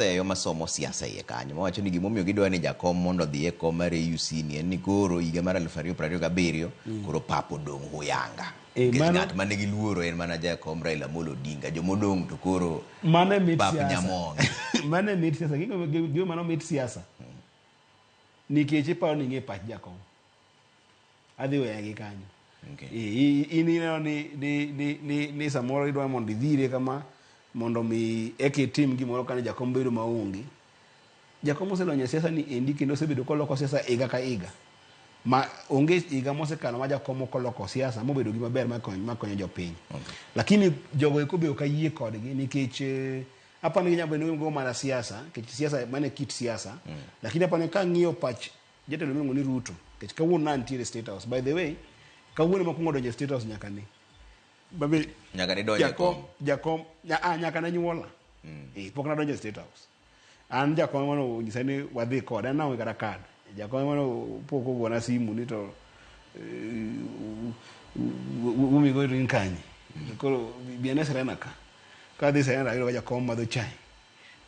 oseyo masomo siasa iye kanyo mawacho ni gimomiyo gidwa ni jakom mondo odhi e kom mar AUC ni en ni koro higa mar 2027 koro pap odong' huyanga Eh, Nikech mano- ng'at mane giluoro en mana jakom Raila Amolo Odinga jomodong' to koro mano e mit Pap siasa Nyamonge. mano e mit siasa Gima- gima mano mit siasa nikech iparo ni ing'e pach jakom adhi weya gi kanyo okay. in ineno ni, ni, ni, ni, ni samoro idwa mondo idhire kama mondo mi eka itim gimoro kane jakom bedo maonge jakom oselonyo e siasa ni endi kendo osebedo koloko siasa iga ka iga ma onge higa mosekalo ma jakom ok oloko siasa mobedo gi maber makonyo jopiny okay. lakini jogo eko be ok ayie kodgi nikech eh, apani ginyalo bedo go mana siasa nikech siasa mane kit siasa mm. lakini apani ka ng'iyo pach Jatelo miluongo ni Ruto nikech kawuono ne antiere State House. By the way, kawuono ema akwongo donjo e State House nyaka ne. Babe, Nyaka ne donjo e jakom, kom. jakom, nya- ah, nyaka ne nyuola. Eh, pok nadonjo e State House. An jakom ema nonyisa ni wadhi kode, an naonge kata kad. Jakom ema no- pok ogona simu ni to eh, u- u- u- wumi go in kanye. Koro bi ane Serena ka. Kadhi Serena ayudo ka jakom madho chai.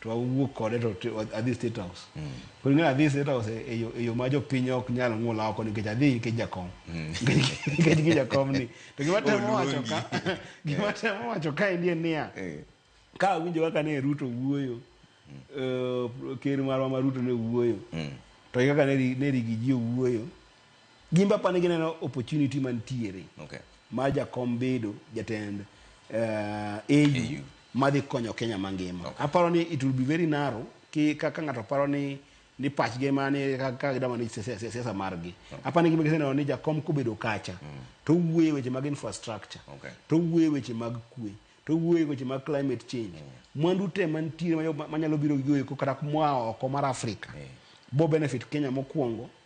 to awuok kode to adhi state house mm. koro ing'eyo adhi state house e, e, e yo ma jopiny ok nyal ng'ula oko nikech adhi nikech jakom mm. nikech gi jakom ni to gima temo wacho ka gima eh. temo wacho ka endi en niya eh. ka awinjo kaka ne ruto wuoyo mm. eh, ker marwa ma ruto ne wuoyo to kaka ne rigi ji owuoyo Gin be apani gineno opportunity mantiere okay. mar jakom bedo jatend uh, eh, AU, AU madhi konyo Kenya mangima. Okay. Aparo ni it will be very narrow ki kaka ng'ato paro ni ni pachgi ema ni kaka gidama ni siasa margi. Okay. Apani gima giseneno ni jakom kobedo kacha mm. to wuoye weche mag infrastructure okay. to wuoye weche mag kwe to wuoye weche mag climate change mm. mwandu te mantiere manyalo biro gigoeko kata moa oko mar Afrika mm. bo benefit Kenya mokwongo